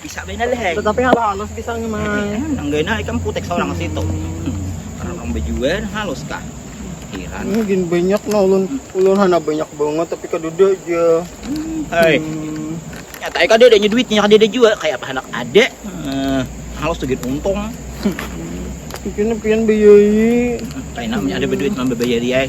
Bisa bainal hei. Tetapi hal halus bisa ngi mai. Eh, nang gaina ikam putek seorang situ. Karena orang bejual halus kah? Heran. Ini gin banyak nah ulun ulun hana banyak banget tapi kadada aja. Hmm, hei. Hmm. Nyata ya kadada nya duitnya kadada jua kayak apa anak ada. Hmm, halus tuh gin untung. Mungkin pian bayai. Kayak namanya ada berduit mah bayai.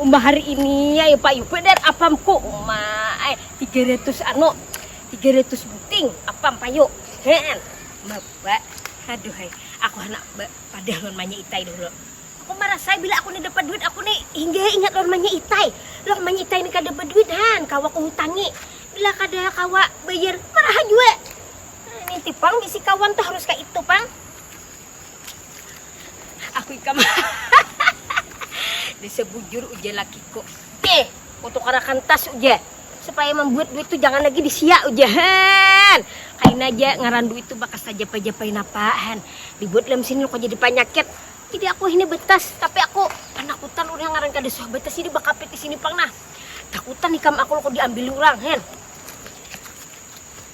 Uma hari ini ayo payu pedar apam ku uma ay tiga ratus anu tiga ratus buting apam payu hean maba aduh ay aku anak padah lawan manya itai dahulu aku marasa bila aku ni dapat duit aku ni hingga ay ingat lawan manya itai lawan manya itai ni kada baduit han kawa ku hutangi bila kada kawa bayar maraha jua niti pang bisi kawan tu harus kaitu pang. aku ikam desa bujur ujar lakiku oke aku tukarakan tas ujar supaya membuat duit itu jangan lagi disia ujar han kain aja ngaran duit itu bakas tajapa-japain apaan dibuat dalam sini kok jadi panyakit jadi aku ini betas tapi aku panakutan udah ngaran kada suah betas ini bakapit di sini pang nah takutan ikam aku kok diambil orang hen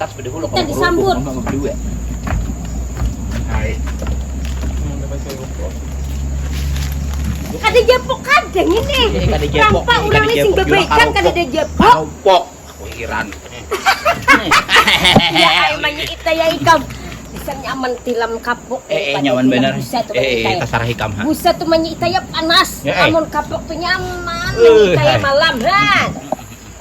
Tas beda hulu kalau disambut. Mama berdua. Hai. Kada jepok kadang ini. Kada jepok. Rampa urang sing bebaikan kada ada jepok. Karopok. Aku hiran. ya ai manya ita ya ikam. Bisa nyaman tilam kapok. Eh, eh nyaman benar. Busa tu eh, eh, terserah ikam. Ha. Busa tu manya ita ya panas. Ya, eh. Amun kapok tu nyaman. Uh, ita ya malam. Ha.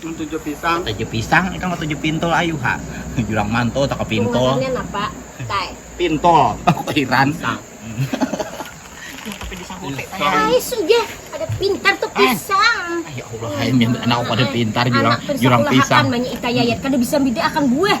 Tujuh pisang. Tujuh pisang, ikam tujuh pintol ayu ha. Jurang manto tak pintol. Ngarannya napa? Tay. Pintol. Aku kehiran. Pisang. Nah, tapi disahuti tay. Ay, sugih. Ada pintar tuh pisang. Ay, ya Allah, ay, anak aku ada pintar jurang, jurang pisang. Anak banyak itayayat, kada bisa bida akan buah.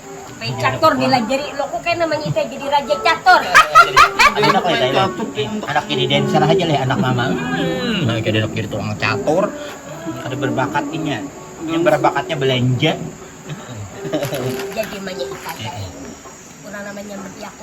Main catur dilajari lo kok kaya namanya itai jadi raja catur. Tapi handak leh itai leh, handak jadi dancer haja leh anak mama, hmm kaya handak jadi tukang catur, kada berbakat inya, inya berbakatnya belanja. Jadi imannya itai ai, urang namanya mentiaku.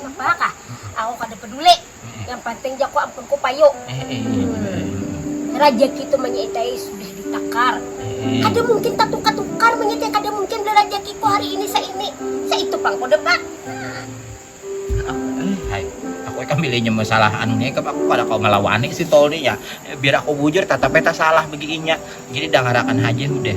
Napa kah, aku kada peduli, yang panting jaku ampunku payu. Rajaki tu manyitai sudah ditakar, kada mungkin tatukar-tukar manyitai kada mungkin beli rajakiku hari ini saini, saitu pang kuda pa. Lihai, aku ikam bilanya masalah anu ni ikam, aku kada kawa malawani si Tol ni ya, biar aku bujur tatap ai tasalah bagi inya, jadi dangarakan haja hudah.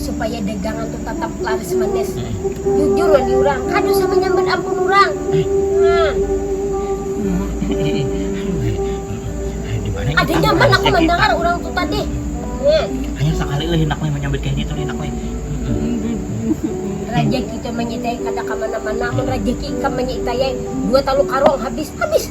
supaya dagangan tuh tetap laris manis jujur wan diurang kadu sama nyambat ampun urang nah ada nyaman aku mendengar urang tuh tadi hanya sakali leh hindak leh menyambat kaya gitu leh hindak leh rajaki tuh menyitayai kada kemana-mana amun rajaki ikam menyitayai dua talu karung habis habis.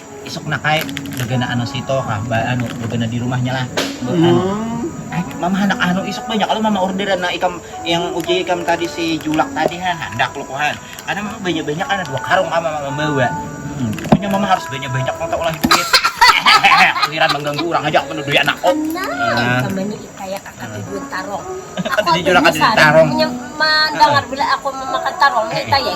isuk nakai gegana anu sito kah ba anu gegana di rumahnya lah Be- anu Hmm. eh mama handak anu isuk banyak kalau mama orderan nah ikam yang uji ikam tadi si julak tadi ha handak lu kuhan karena mama banyak banyak ada dua karung kah mama mambawa hmm pokoknya mama harus banyak banyak nang taulahi duit hehehe giliran mangganggu urang haja manu duit anakku Tenang, ikam ini kaya kaka di duit tarong. Aku Kada di julak, kada di tarong. Hanya mandangar bila aku memakan tarong, ni kaya.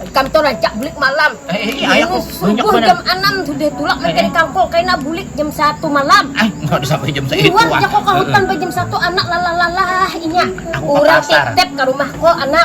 Ikam tu rancak bulik malam. Ini subuh jam anam sudah tulak mancari kangkung, kaina bulik jam satu malam. Liwar ja ko ka hutan ba jam satu anak lalah-lalah inya. Urang titip ka rumah ko anak.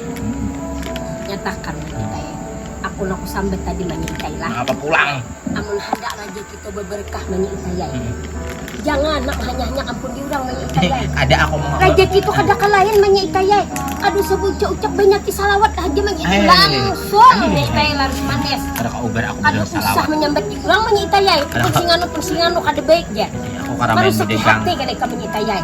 Nyatakan manyitai. Aku nang kusambat tadi manyitai lah. Mangapa pulang? Amun handak raja kita babarkah manyitai ai. Jangan nak mahanyah-hanyah ampun diurang manyitai ai. Kada aku mangapa. Raja kita kada ka lain manyitai ai. Kada usah baucap-ucap banyak ti salawat haja manyitai langsung manyitai laris manis. Kada ka ubar aku basalah salawat. Kada usah manyambat diurang manyitai ai. Pun singanu pun singanu kada baik jar. Marusaki hati kena ikam manyitai ai.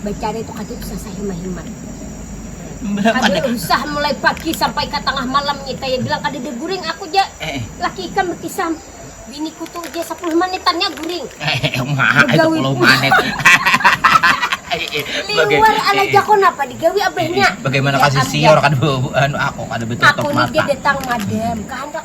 Bacari itu kaki tusah sahimat-himat. Kada usah mulai pagi sampai ka tangah malam ngitai ai bilang kadada guring aku ja laki ikam bakisah biniku tu ja sapuluh manitan nya guring. Begawi pulang. Liwar ala jako napa digawi abahnya. Ya am ja. Aku ni ja datang madam kahandak.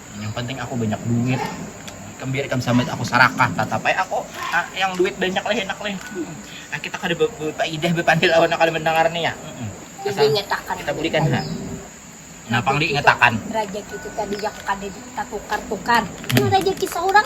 yang penting aku banyak duit ikam biar ikam sambat aku sarakah tatap ai aku ah, yang duit banyak leh enak leh ah, kita kada berfaedah berpandil awan kada mendengar nih ya asal kita bulikan ha Nah, pang diingatakan. Rajaki itu tadi yang kada ditatukar-tukar. Hmm. Rajaki seorang